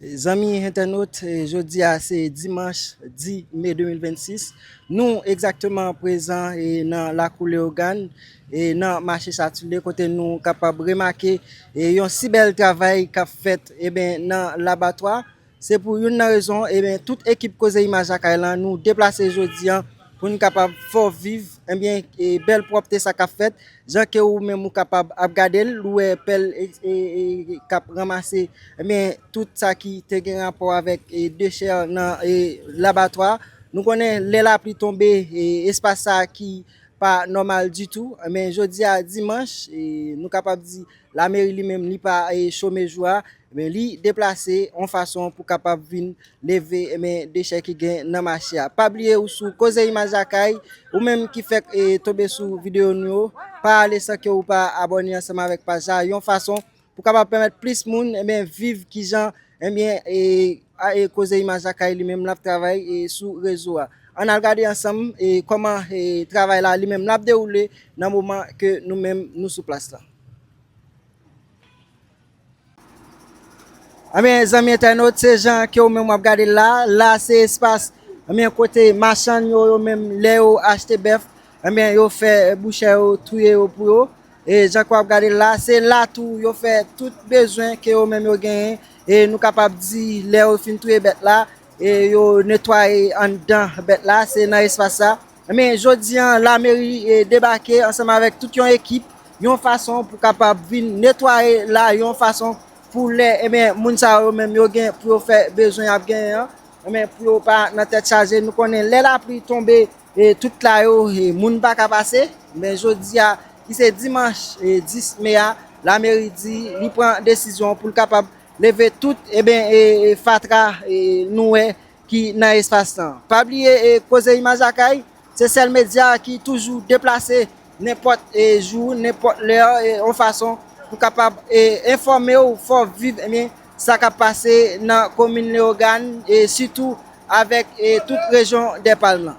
Zanmi entènot, jodi a se dimanch 10 me 2026, nou egzakteman prezan nan lakou Leyogàn, nan mache Satulye kote nou kapab remake yon si bèl travay kap fèt nan labatwa. Se pou youn nan rezon tout ekip Koze Imaj Lakay lan nou deplase jodi an. Pou n kapab fè w viv, enbyen, bèl pwòpte sa k ap fèt, jan ke ou menm ou kapab ap gade l, ou wè pèl k ap ranmase, enbyen, tout sa ki te gen rapò avèk dechè nan labatwa. Nou konnen lè lapli tonbe, espas sa a ki pa nòmal ditou, enbyen, jodi a dimanch, nou kapab di lameri li menm li pa chome jou a, Ebyen li deplase yon fason pou kapab vin leve ebyen dechè ki gen nan mache a. Pa bliye ou sou Koze Imaj Lakay, ou menm ki fèk tonbe sou videyo nou yo, pa ale san ke ou pa abòne ansanm avèk paj la, yon fason pou kapab pèmèt plis moun ebyen viv kijan ebyen Koze Imaj Lakay li menm lap travay sou rezo a. Ann al gade ansanm kòman travay la li menm lap dewoule nan moman ke nou menm nou sou plas la. Ebyen eh zanmi entènot se jan ke ou menm wap gade la, la se espas ebyen eh kote machann yo yo menm lè yo achte bèf ebyen eh yo fè bouchè yo touye yo pou yo e jan ke wap gade la se la tou yo fè tout bezwen ke yo menm yo genyen e nou kapab di lè yo fin touye bèt la e yo netwaye anndan bèt la se nan espas sa. Enben, jodi an, lameri debake ansanm avèk tout yon ekip, yon fason pou kapab vin netwaye la, yon fason pou lè, enben, moun sa yo menm yo gen pou yo fè bezwen y ap genyen an, enben, pou yo pa nan tèt chaje. Nou konnen lè lapli tonbe, tout la yo, moun pa ka pase. Enben, jodi a, ki se dimanch 10 me a, lameri di li pran desizyon pou l kapab leve tout, enben, fatra nou wè ki nan espas tan. Pa bliye Koze Imaj Lakay se sèl medya ki toujou deplase nenpòt jou, nenpòt lè yon fason pou kapab enfòme w, fè w viv sa k ap pase nan komin Leyogàn sitou avèk tout rejyon Dèpalm lan.